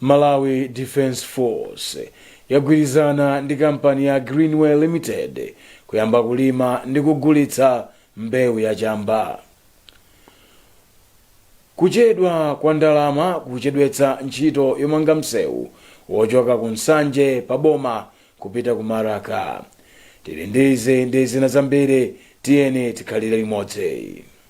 Malawi Defence Force yagwirizana ndi kampani ya Greenway Limited kuyamba kulima ndi kugulitsa mbewu ya chamba. Kuchedwa kwa ndalama kukuchedwetsa ntchito yomanga msewu wochoka ku Nsanje pa boma kupita ku Maraka. Tili ndi izi ndi zina zambiri, tiyeni tikhalire limodzi.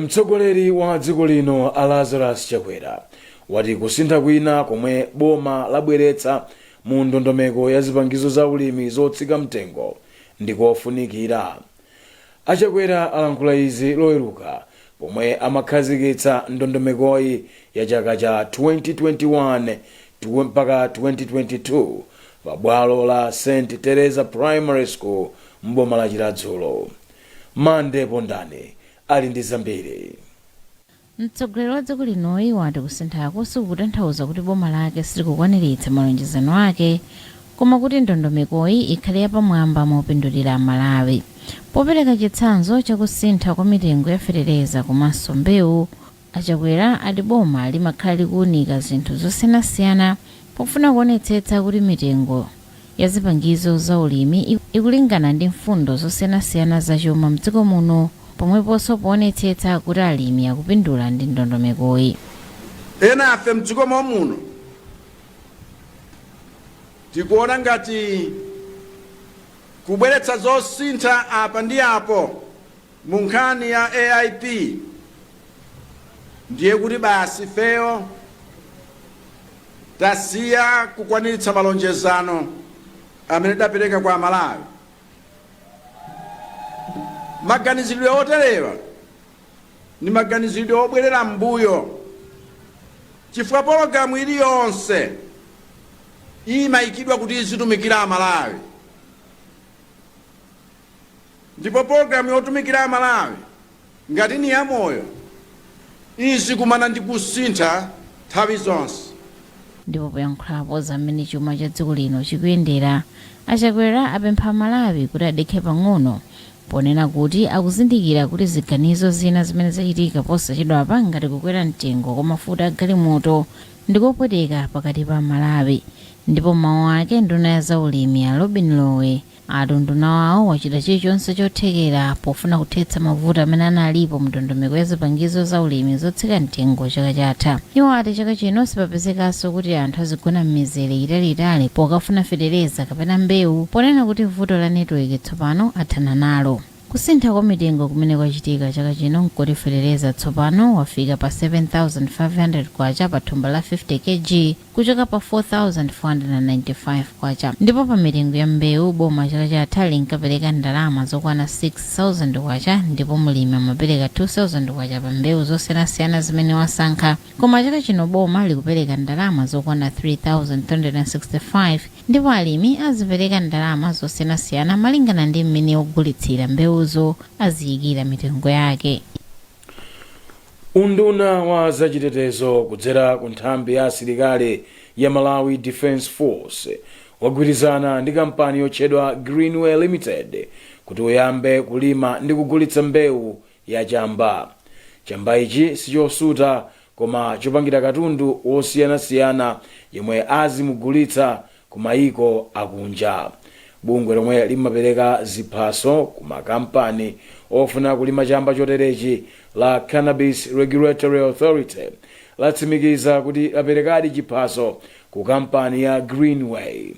mtsogoleri wa dziko lino a lazarus chakwera wati kusintha kwina komwe boma labweretsa mu ndondomeko ya zipangizo za ulimi zotsika mtengo ndikofunikira achakwera alankhula izi loweruka pomwe amakhazikitsa ndondomekoyi ya chaka cha 2021 mpaka 2022 pa bwalo la st teresa primary school mboma la chiradzulo Mandy Pondani ali ndi zambiri. Mtsogoleri wa dziko linoyi wati kusinthaku sikukutanthauza kuti boma lake silikukwaniritsa malonjezano ake koma kuti ndondomekoyi ikhale yapamwamba mopindulira aMalawi. Popereka chitsanzo cha kusintha kwa mitengo ya fetereza komanso mbewu, A Chakwera ati boma limakhala likuunika zinthu zosiyanasiyana pofuna kuonetsetsa kuti mitengo ya zipangizo za ulimi ikulingana ndi mfundo zosiyanasiyana za chuma mdziko muno pomweponso poonetsetsa kuti alimi akupindula ndi ndondomekoyi. Ena a ife mdziko mom'muno tikuona ngati kubweretsa zosintha apa ndi apo. Mu nkhani ya AIP ndiye kuti basi ifeyo tasiya kukwaniritsa malonjezano amene tidapereka kwa Amalawi. Maganizidwe oterewa ndi maganizidwe obwerera m'mbuyo chifukwa pologalamu iliyonse imayikidwa kuti izitumikira Amalawi. Ndipo pologalamu yotumikira Amalawi ngati ni yamoyo, izikumana ndi kusintha nthawi zonse. Ndipo poyankhulapo za m'mene chuma cha dziko lino chikuyendera, a Chakwera apempha Amalawi kuti adekhe pang'ono, ponena kuti akuzindikira kuti ziganizo zina zimene zachitika posachedwapa ngati kukwera mtengo kwa mafuta a galimoto ndikopweteka pakati pa Amalawi. Ndipo m'mawu ake, nduna ya za ulimi, a Lobin Lowe, ati unduna wawo wachita chilichonse chothekera pofuna kuthetsa mavuto amene analipo mndondomeko ya zipangizo za ulimi zotsika mtengo chaka chatha iwo ati chaka chino sipapezekanso kuti anthu azigona m'mizere italiitali pokafuna fetereza kapena mbewu ponena kuti vuto la netiweki tsopano athana nalo kusintha kwa mitengo kumene kwachitika chaka chino nkoti fetereza tsopano wafika pa 7500 kwacha pa thumba la 50 kg kuchoka pa K4495 ndipo pa mitengo ya mbewu boma chaka chatha linkapereka ndalama zokwana K6000 ndipo mlimi amapereka K2000 pa mbewu zosiyanasiyana zimene wasankha koma chaka chino boma likupereka ndalama zokwana K3365 ndipo alimi azipereka ndalama zosiyanasiyana malingana ndi mmene ogulitsira mbewuzo aziyikira mitengo yake. Unduna wa zachitetezo kudzera ku nthambi ya asilikali ya Malawi Defence Force wagwirizana ndi kampani yotchedwa Greenway Limited kuti uyambe kulima ndi kugulitsa mbewu ya chamba. Chamba ichi sichosuta koma chopangira katundu wosiyanasiyana yemwe azimugulitsa kumayiko akunja. Bungwe lomwe limapereka ziphaso ku makampani ofuna kulima chamba choterechi la Cannabis Regulatory Authority latsimikiza kuti laperekadi chiphaso ku kampani ya Greenway.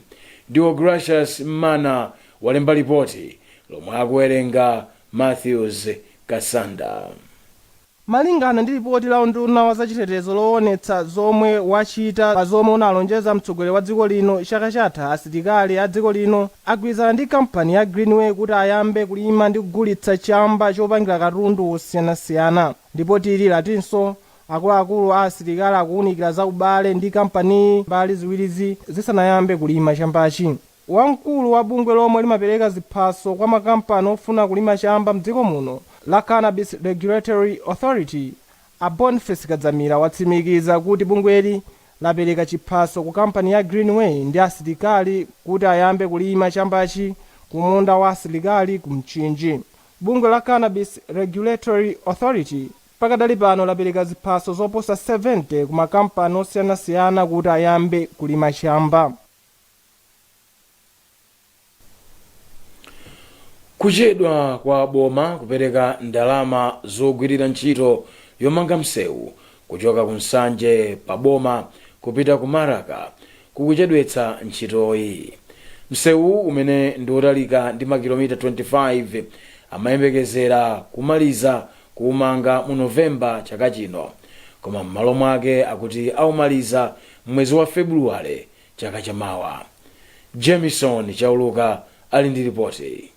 Deogracious Mmana walemba lipoti lomwe akuwerenga Mathews Kasanda. Malingana ndi lipoti la unduna wa zachitetezo lowonetsa zomwe wachita pa zomwe unalonjeza mtsogoleri wa dziko lino chaka chatha asilikali a dziko lino agwirizana ndi kampani ya Greenway kuti ayambe kulima ndi kugulitsa chamba chopangira katundu wosiyanasiyana. Lipoti ili latinso akuluakulu a asilikali akuwunikira za ubale ndi kampaniyi mbali ziwirizi zisanayambe kulima chambachi. Wamkulu wa bungwe lomwe limapereka ziphaso kwa makampani ofuna kulima chamba mdziko muno la Cannabis Regulatory Authority a Boniface Kadzamira watsimikiza kuti bungweli lapereka chiphaso ku kampani ya Greenway ndi asilikali kuti ayambe kulima chambachi ku munda wa asilikali ku Mchinji. Bungwe la Cannabis Regulatory Authority pakadali pano lapereka ziphaso zoposa 70 ku makampani osiyanasiyana kuti ayambe kulima chamba. kuchedwa kwa boma kupereka ndalama zogwirira ntchito yomanga msewu kuchoka ku Nsanje pa boma kupita ku Maraka kukuchedwetsa ntchitoyi msewu umene ndi wotalika ndi makilomita 25 amayembekezera kumaliza kuumanga mu novemba chaka chino koma m'malo mwake akuti aumaliza m'mwezi wa febuluwale chaka cha mawa. Jamison Chauluka ali ndi lipoti.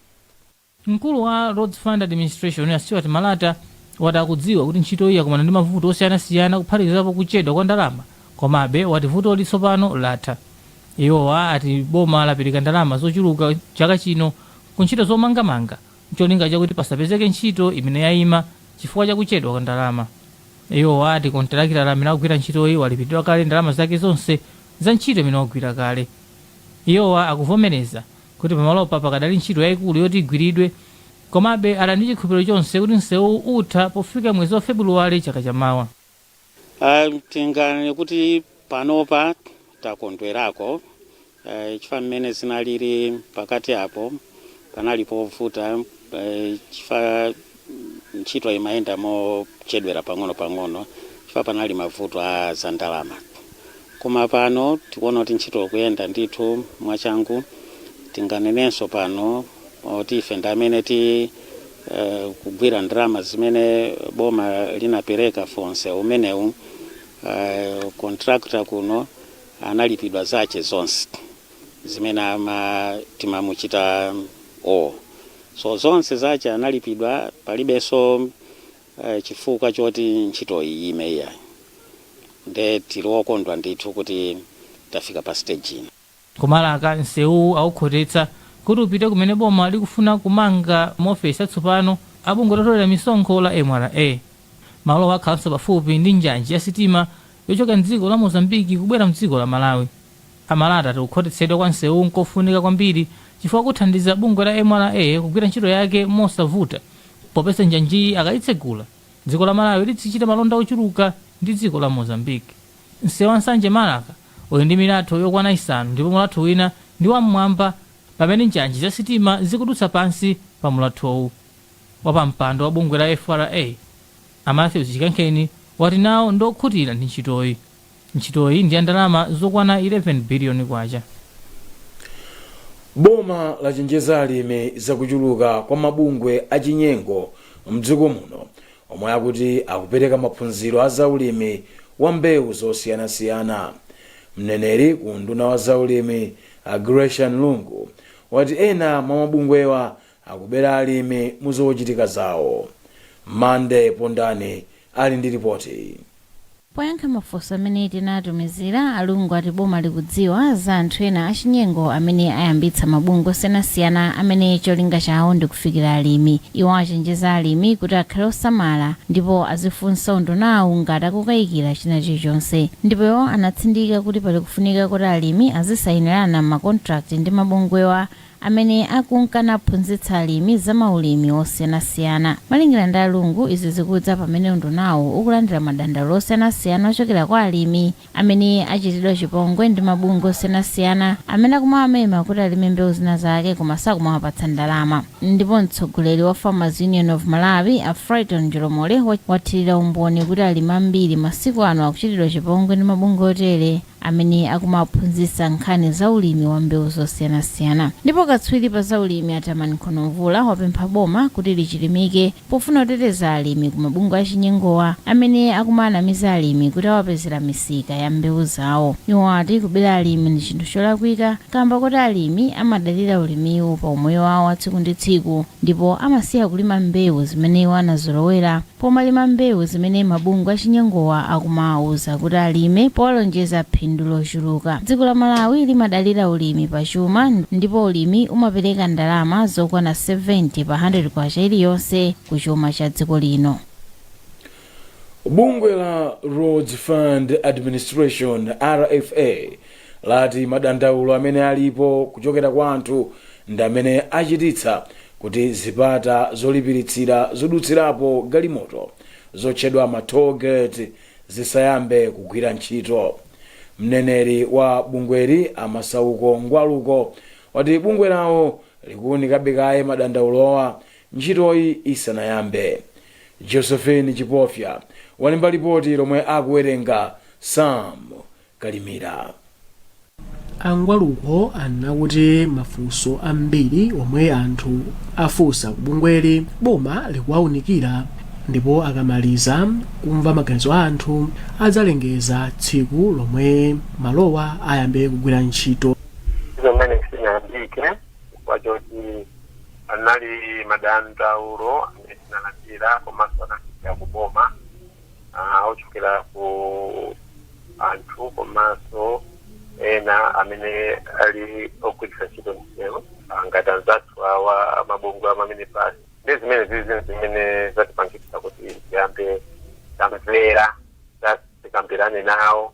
Mkulu wa Roads Fund Administration, a Stewart Malata, wati akudziwa kuti ntchitoyi yakumana ndi mavuto osiyanasiyana kuphatikizapo kuchedwa kwa ndalama komabe wati vutoli tsopano latha. Iwo ati boma lapereka ndalama zochuluka chaka chino ku ntchito zomangamanga. n'cholinga chakuti pasapezeke ntchito imene yaima chifukwa cha kuchedwa kwa ndalama. Iwowa ati kontilakitala amene akugwira ntchitoyi walipidwa kale ndalama zake zonse za ntchito imene wagwira kale. Iwowa akuvomereza kuti pamalopa pakadali ntchito yaikulu yoti igwiridwe komabe ali ndi chikhulupiliro chonse kuti nsewuwu utha pofika mwezi wa Febuluwale chaka chamawa. Ah, tinganene kuti panopa takondwerako eh, chifukwa mmene zinalili pakati apo panali povuta eh, chifukwa ntchito imayenda mochedwera pang'ono pang'ono chifukwa panali mavuto a za ndalama koma pano tikuona kuti ntchito ikuyenda ndithu mwachangu tinganenenso pano kuti ife ndi amene ti eh, kugwira ndalama zimene boma linapereka pa msewu umenewu eh, contractor kuno analipidwa zache zonse zimene ama timamuchita owe so zonse zache analipidwa palibenso eh, chifukwa choti ntchito iyi iime ayi nde tili okondwa ndithu kuti tafika pa stage ino Ku Maraka, nsewuwu aukhotetsa kuti upite kumene boma likufuna kumanga maofesi atsopano a bungwe lotolera misonkho la mra. Malowa akhalanso pafupi ndi njanji ya sitima yochoka m'dziko la Mozambique kubwera m'dziko la Malawi. A Malata ati kukhotetsedwa kwa nsewuwu n'kofunika kwambiri chifukwa kuthandiza bungwe la mra kugwira ntchito yake mosavuta popeza njanjiyi akaitsegula, dziko la Malawi lidzichita malonda ochuluka ndi dziko la Mozambique. Msewu wa Nsanje-Maraka uli ndi milatho yokwana isanu ndipo mulatho wina ndi wam'mwamba pamene njanji za sitima zikudutsa pansi pa mulathowu. Wapampando wa bungwe la FRA, a Mathews Chikankheni, wati nawo ndi okhutira ndi ntchitoyi. Ntchitoyi ndi ya ndalama zokwana K11 biliyoni. Boma lachenjeza alimi za kuchuluka kwa mabungwe achinyengo m'dziko muno omwe akuti akupereka maphunziro a zaulimi wa mbewu zosiyanasiyana. Mneneri ku unduna wa zaulimi, a Gracian Lungu, wati ena mwa mabungwewa akubera alimi mu zochitika zawo. Mande Pondani ali ndi lipoti. Poyankha mafunso amene tinatumizira, a Lungu ati boma likudziwa za anthu ena achinyengo amene ayambitsa mabungwe osiyanasiyana amene cholinga chawo ndi kufikira alimi. Iwo achenjeza alimi kuti akhale osamala ndipo azifunsa undunawu ngati akukayikira china chilichonse. Ndipo iwo anatsindika kuti pali kufunika koti alimi azisainirana ma contract ndi mabungwewa amene akunka naphunzitsa alimi za maulimi osiyanasiyana. Malingana ndi a Lungu, izi zikudza pamene undunawu ukulandira madandaulo osiyanasiyana ochokera kwa alimi amene achitidwa chipongwe ndi mabungwe osiyanasiyana amene akumawamema kuti alime mbewu zina zake koma sakumawapatsa ndalama. Ndipo mtsogoleri wa Farmers Union of Malawi, a Frighton Njolomole, wathirira umboni kuti alimi ambiri masiku ano akuchitidwa chipongwe ndi mabungwe otere. amene akumaphunzitsa nkhani za ulimi wa mbewu zosiyanasiyana. Ndipo katswiri pa za ulimi a Tamani Nkhono-Mvula wapempha boma kuti lichilimike pofuna kuteteza alimi ku mabungwe achinyengowa amene akumaanamiza alimi kuti awapezera misika ya mbewu zawo. Iwo ati kubera alimi ndi chinthu cholakwika kaamba koti alimi amadalira ulimiwu pa umoyo wawo wa tsiku ndi tsiku ndipo amasiya kulima mbewu zimene iwo anazolowera Pomalima mbewu zimene mabungwe achinyengowa akumawauza kuti alime powalonjeza phindu lochuluka. Dziko la Malawi limadalira ulimi pa chuma ndipo ulimi umapereka ndalama zokwana 70 pa K100 iliyonse ku chuma cha dziko lino. Bungwe la Roads Fund Administration, RFA, lati madandaulo amene alipo kuchokera kwa anthu ndi amene achititsa kuti zipata zolipiritsira zodutsirapo galimoto zotchedwa ma toll gate zisayambe kugwira ntchito. Mneneri wa bungweli a Masauko Ngwaluko wati bungwe lawo likuunikabe kaye madandaulowa ntchitoyi isanayambe. Josephine Chipofya walemba lipoti lomwe akuwerenga Sam Kalimira. A Ngwaluko anena kuti mafunso ambiri omwe anthu afunsa ku bungweli boma likuwaunikira ndipo akamaliza kumva maganizo a anthu adzalengeza tsiku lomwe malowa ayambe kugwira ntchito. Izo zimene sizinayambike chifukwa choti anali madandaulo amene tinalandira komanso anapita ku boma ah, ochokera ku anthu komanso ena amene ali ogwiritsa ntchito msewu ah, ngati anzathu awa amabungwe a maminibasi ndi zimene zili zinthu zimene zatipangitsa kuti tiyambe tamvera za- tikambirane nawo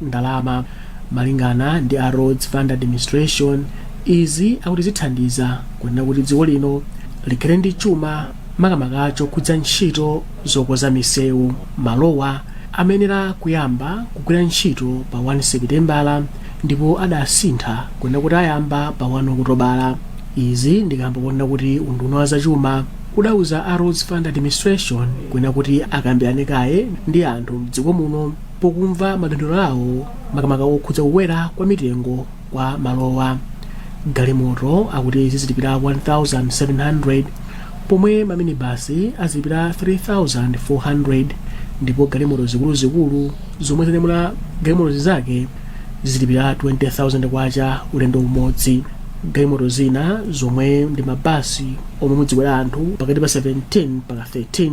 ndalama. Malingana ndi a Roads Fund Administration, izi akuti zithandiza kunena kuti dziko lino likhale ndi chuma makamaka chokhudza ntchito zokoza misewu. Malowa amayenera kuyamba kugwira ntchito pa 1 Sepitembala ndipo adasintha kunena kuti ayamba pa 1 Okutobala. Izi ndi kamba konena kuti unduna wa zachuma udauza a Roads Fund Administration kunena kuti akambirane kaye ndi anthu m'dziko muno pokumva madandaulo awo makamaka okhudza kukwera kwa mitengo kwa malowa galimoto akuti zizilipira 1700 pomwe maminibasi azilipira 3400 ndipo galimoto zikuluzikulu zomwe zinyamula galimoto zizake zizilipira 20000 kwacha ulendo umodzi galimoto zina zomwe ndi mabasi omwe mudzikwera anthu pakati pa 17 mpaka 30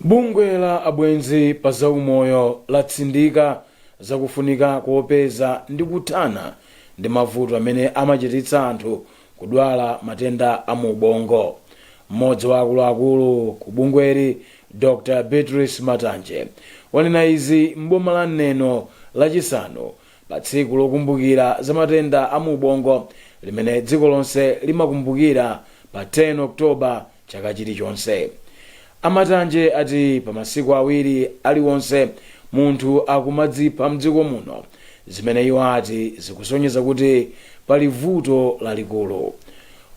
bungwe la abwenzi pa zaumoyo latsindika zakufunika kopeza ndi kuthana ndi mavuto amene amachititsa anthu kudwala matenda a mu ubongo mmodzi wa akuluakulu ku bungweli dr beatrice matanje wanena izi m'boma la neno lachisanu Pa tsiku lokumbukira za matenda a mu ubongo limene dziko lonse limakumbukira pa 10 October chaka chilichonse, a Matanje ati pa masiku awiri aliwonse munthu akumadzipha m'dziko muno, zimene iwo ati zikusonyeza kuti pali vuto lalikulu.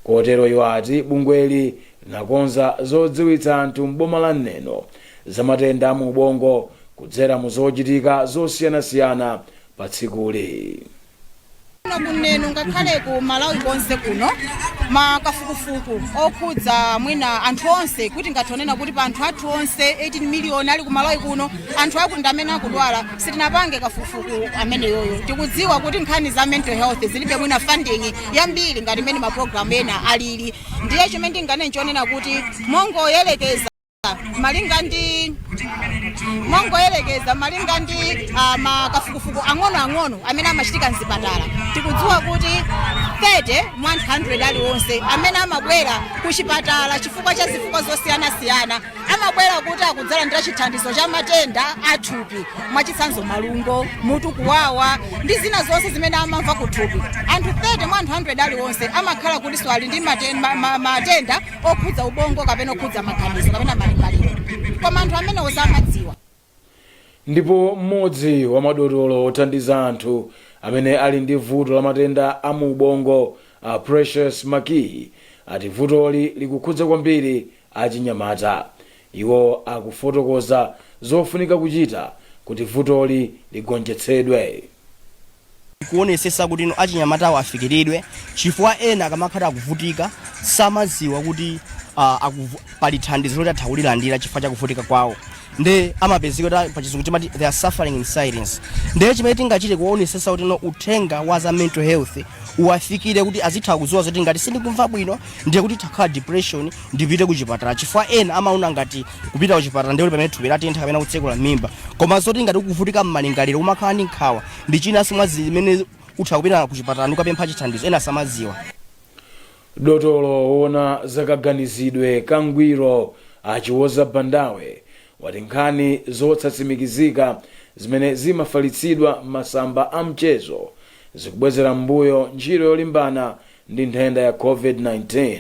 Kotero iwo ati bungweli linakonza zodziwitsa anthu m'boma la Neno za matenda a mu ubongo kudzera mu zochitika zosiyanasiyana pa tsikuli. kuno ku neno ngakhale ku malawi konse kuno makafukufuku okhudza mwina anthu onse kuti ngati kunena kuti pa anthu athu onse 18 miliyoni ali ku malawi kuno anthu akuti ndamene akudwala sitinapange kafukufuku ameneyoyo tikudziwa kuti nkhani za mental health zilibe mwina funding yambiri ngati mmene mapulogalamu ena alili ndiye chimene ndinganene n'chonena kuti mongoyerekeza malinga ndi mongoyerekeza malinga ndi uh, makafukufuku ang'onoang'ono amene amachitika mzipatala tikudziwa kuti 30 mwa 100 aliwonse amene amabwera ku chipatala chifukwa cha zifukwa zosiyanasiyana amabwera kuti akudzalandira chithandizo cha matenda athupi mwachitsanzo malungo mutu kuwawa ndi zina zonse zimene amamva kuthupi anthu 30 mwa 100 aliwonse amakhala kutinso ali ndi maten- ma- ma- matenda okhudza ubongo kapena okhudza maganizo kapena malingaliro koma anthu amenewo samadziwa ndipo mmodzi wa madotolo othandiza anthu amene ali ndi vuto la matenda a mu ubongo a Precious Makiyi ati vutoli likukhudza kwambiri achinyamata iwo akufotokoza zofunika kuchita kuti vutoli ligonjetsedwe kuonesesa kuti achinyamatawa afikiridwe chifukwa ena akamakhala akuvutika samaziwa kuti uh, akuvu, pali thandizo loti atha kulilandira chifukwa chakuvutika kwawo nde amapezeka kuti pachizungu timati they are suffering in silence nde chimene tingachite kuonesesa kuti no uthenga wa za mental health uwafikire kuti azitha kuziwa zoti ngati sindikumva bwino ndiye kuti ndikukhala ndi depression ndipite kuchipatala chifukwa ena amaona ngati kupita kuchipatala ndiye kuti pamene thupi latentha kapena kutsekula mimba koma zoti ngati ukuvutika mmalingaliro umakhala ndi nkhawa ndi chinanso mwa zimene utha kupita kuchipatala ndi kukapempha chithandizo ena samadziwa dotolo wona zakaganizidwe kangwiro a Chiwoza Bandawe wati nkhani zosatsimikizika zimene zimafalitsidwa m'masamba a mchezo zikubwezera m'mbuyo ntchito yolimbana ndi nthenda ya covid-19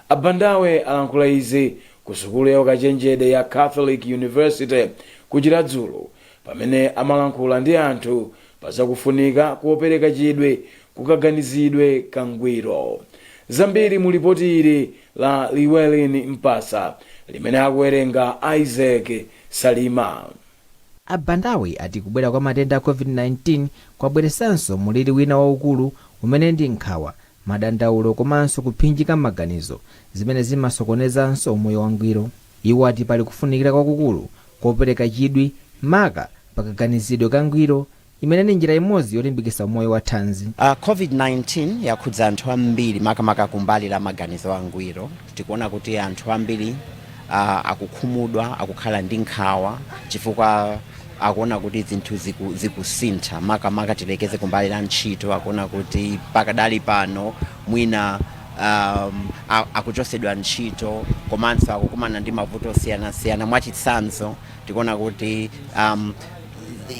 a Bandawe alankhula izi ku sukulu ya ukachenjede ya catholic university ku chiradzulu Pamene amalankhula ndi anthu pa za kufunika kopereka chidwi ku kaganizidwe kangwiro. Zambiri mu lipoti ili la Llewellyn Mpasa limene akuwerenga Isaac Salima. A Bandawe ati kubwera kwa matenda a Covid-19 kwabweresanso mulili wina waukulu umene ndi nkhawa, madandaulo komanso kuphinjika m'maganizo zimene zimasokonezanso umoyo wangwiro. Iwo ati pali kufunikira kwakukulu kopereka chidwi maka pa kaganizidwe ka ngwiro imene ndi njira imodzi yolimbikitsa umoyo wa thanzi. Covid-19 yakhudza anthu ambiri makamaka kumbali la maganizo angwiro. Tikuona kuti anthu ambiri akukhumudwa, akukhala ndi nkhawa chifukwa akuona kuti zinthu zikusintha makamaka tiyerekeze kumbali la ntchito akuona kuti pakadali pano mwina. um, a- akuchosedwa ntchito komanso akukumana ndi mavuto osiyanasiyana mwachitsanzo tikuona kuti um,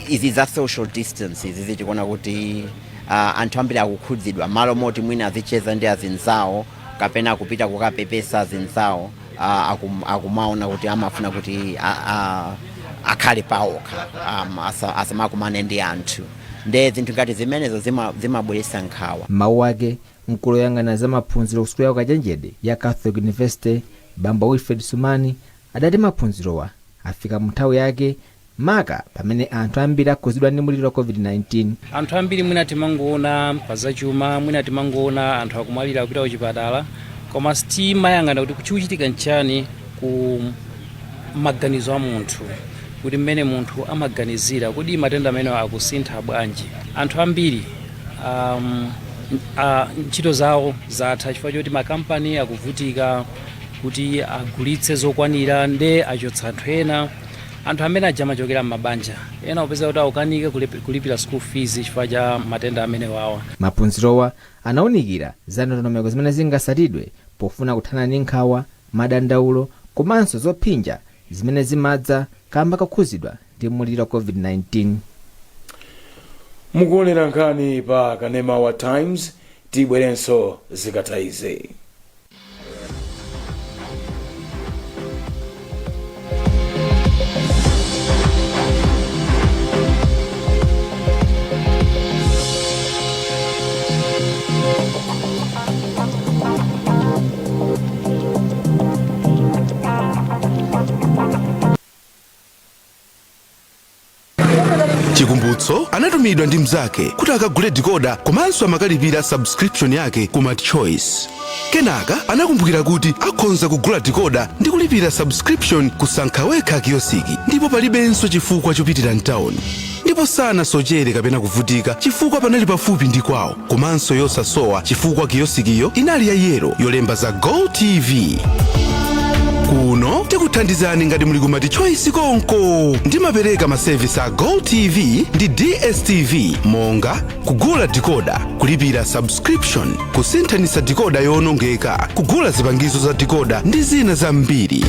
izi za social distance izizi tikuona kuti uh, anthu ambiri akukhudzidwa m'malo moti mwina azicheza ndi azinzawo kapena kupita kukapepesa azinzawo uh, akum, akumaona kuti amafuna kuti a, a, akhale paokha um, asa- asamakumane ndi anthu nde zinthu ngati zimenezo zima- zimabweretsa nkhawa M'mawu ake, Mkulu oyang'anira za maphunziro ku sukulu ya ukachenjede ya Catholic University Bambo Wilfred Sumani adati maphunzirowa afika mu nthawi yake maka pamene anthu ambiri akhudzidwa ndi muliri wa Covid-19. Anthu ambiri mwina timangoona pa zachuma, mwina timangoona anthu akumwalira kupita kuchipatala koma sitimayang'ana kuti chikuchitika nchani ku maganizo a munthu kuti mmene munthu amaganizira kodi matenda amenewa akusintha bwanji. Anthu ambiri um, uh, ntchito zawo zatha chifukwa choti makampani akuvutika kuti agulitse zokwanira nde achotsa anthu ena anthu amene aja amachokera m'mabanja ena kupeza kuti akukanika kulip- kulipira school fees chifukwa cha matenda amene wawa maphunzirowa anaunikira za ndondomeko zimene zingatsatidwe pofuna kuthana ndi nkhawa madandaulo komanso zophinja zimene zimadza kamba kokhudzidwa ndi muliri wa COVID-19. Mukuonera nkhani pa Kanema wa Times, tibwerenso zikatha izi. chikumbutso anatumidwa ndi mnzake kuti akagule dikoda komanso amakalipira subscription yake ku multichoice Kenaka anakumbukira kuti akhonza kugula decoder ndi kulipira subscription ku sankha wekha kiyosiki ndipo palibenso chifukwa chopitira mtawuni. Ndipo sanasochere kapena kuvutika chifukwa panali pafupi ndi kwawo komanso yosasowa chifukwa kiyosikiyo inali ya yero yolemba za Go TV. Kuno tikuthandizani ngati muli ku Multichoice konko. Ndimapereka masevisi a Go TV ndi DSTV monga kugula dikoda kulipira subscription kusinthanitsa dikoda yoonongeka kugula zipangizo za dikoda ndi zina zambiri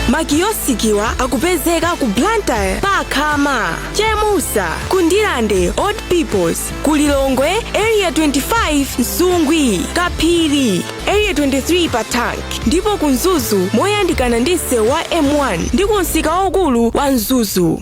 makiyosikiwa akupezeka ku blantyre pa khama chemusa ku ndirande old peoples ku lilongwe area 25 msungwi kaphiri area 23 pa tank ndipo ku mzuzu moyandikana ndi msewu wa m1 ndi ku msika waukulu wa mzuzu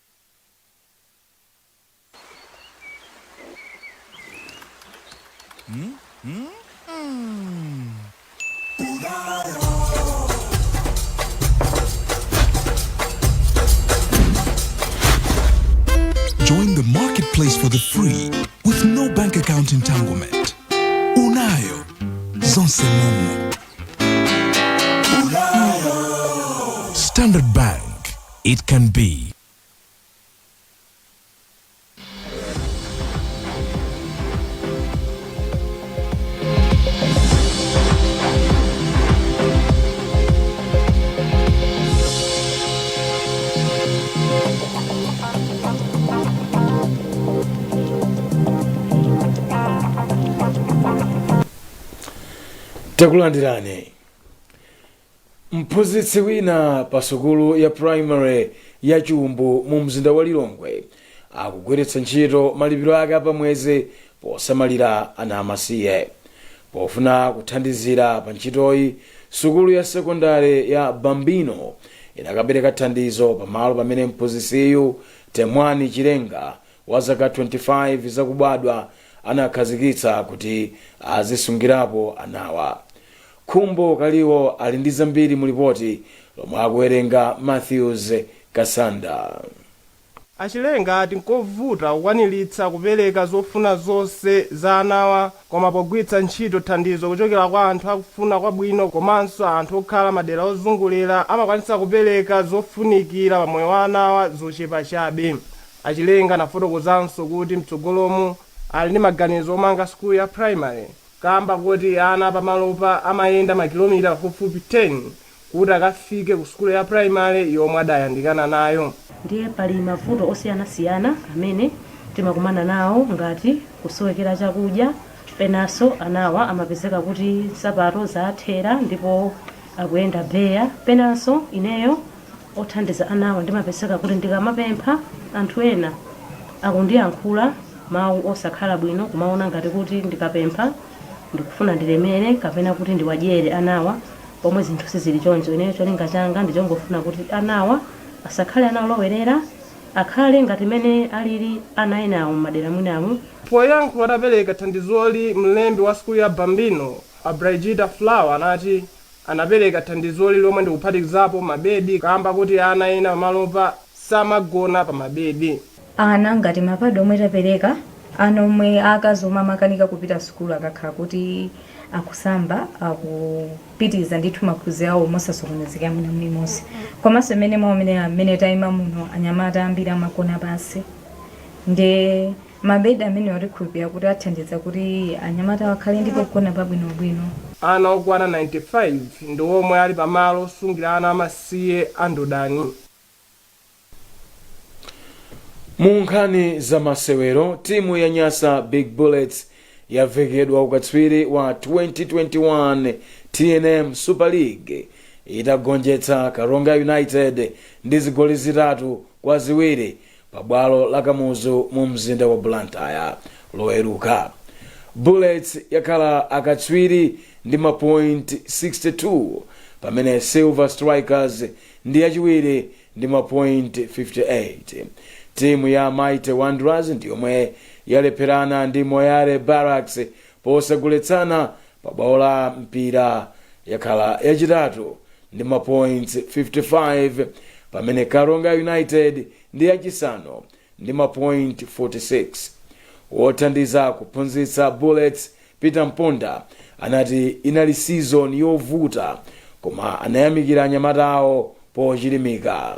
Join the marketplace for the free with no bank account entanglement. Unayo zonse mumu. Standard Bank it can be. takulandirani Mphunzitsi wina pa sukulu ya primary ya Chumbu mu mzinda wa Lilongwe akugwiritsa ntchito malipiro ake a pa mwezi posamalira ana amasiye. Pofuna kuthandizira pa ntchitoyi, sukulu ya sekondale ya Bambino inakapereka thandizo pa malo pamene mphunzitsiyu, Temwani Chilenga wa zaka 25 zakubadwa anakhazikitsa kuti azisungirapo anawa. Khumbo Kaliwo ali ndi zambiri mu lipoti lomwe akuwerenga Mathews Kasanda. A Chilenga ati nkovuta kukwaniritsa kupereka zofuna zonse za anawa koma pogwiritsa ntchito thandizo kuchokera kwa anthu akufuna kwabwino komanso anthu okhala madera ozungulira amakwanitsa kupereka zofunikira pa moyo wa anawa zochepa chabe. A Chilenga anafotokozanso kuti mtsogolomu ali ndi maganizo omanga sukulu ya primary. Kaamba koti ana pamalopa amayenda makilomita pafupifupi 10 kuti akafike ku sukulu ya pulayimale yomwe adayandikana nayo. Ndiye pali mavuto osiyanasiyana amene timakumana nawo ngati kusowekera chakudya, penanso anawa amapezeka kuti nsapato zathera ndipo akuyenda beya, penanso ineyo othandiza anawa ndimapezeka kuti ndikamapempha anthu ena akundiyankhula mawu osakhala bwino kumaona ngati kuti ndikapempha ndikufuna ndilemere kapena kuti ndiwadyere anawa pomwe zinthu sizili choncho ineyo cholinga changa ndichongofuna kuti anawa asakhale ana olowerera akhale ngati mene alili ana enawo mmadera mwinamu Poyankhula atapereka thandizoli mlembi wa sukulu ya Bambino a Brigida Flower anati anapereka thandizoli lomwe ndikuphatikizapo mabedi kaamba koti ana ena pamalopa samagona pa mabedi. Ana ngati ma pad omwe tapereka, ana omwe aakazi omwe amakanika kupita sukulu akakhala kuti akusamba akupitiliza ndithu maphunziro awo mosasokonezeka mwina mulimonse. Komanso mmene mwaonera mmene taima muno anyamata ambiri amagona pansi nde. Mabedi amenewa tikhulupirira kuti athandiza kuti anyamatawa akhale ndi pogona pabwinobwino. Ana okwana 95 ndi omwe ali pa malo osungira ana amasiye a Ndodani. Mu nkhani za masewero, timu ya Nyasa Big Bullets yavekedwa ukatswiri wa 2021 tnm Super League itagonjetsa Karonga United ndi zigoli zitatu kwa ziwiri pa bwalo la Kamuzu mu mzinda wa Blantyre loweruka. Bullets yakhala akatswiri ndi mapoint 62 pamene Silver Strikers ndi yachiwiri ndi mapoint 58. Timu ya Mighty Wanderers yomwe yalepherana ndi Moyale Barracks posagoletsana pa bwalo la Mpira yakhala yachitatu ndi mapoints 55 pamene karonga united ndi yachisanu ndi mapoint 46 wothandiza kuphunzitsa bullets peter mponda anati inali season yovuta koma anayamikira anyamata awo pochilimika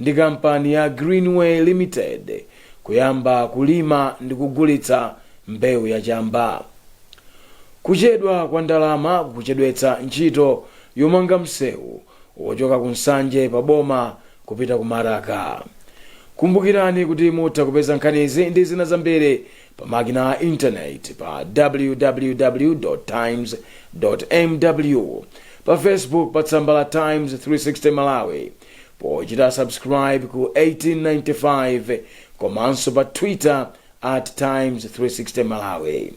ndi kampani ya Greenway Limited kuyamba kulima ndi kugulitsa mbewu ya chamba. Kuchedwa kwa ndalama kukuchedwetsa ntchito yomanga msewu wochoka ku Nsanje pa boma kupita ku Maraka. Kumbukirani kuti mutha kupeza nkhanizi ndi zina zambiri pa makina a intaneti pa www times mw pa facebook pa tsamba la times 360 malawi pochita subscribe ku 1895 komanso pa twitter at times 360 malawi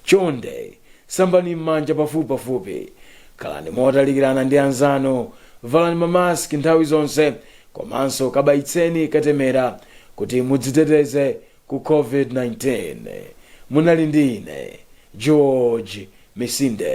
chonde sambani m'manja pafupipafupi khalani motalikirana ndi anzanu valani mamaski nthawi zonse komanso kabayitseni katemera kuti mudziteteze ku covid 19. Munali ndi ine George Misinde.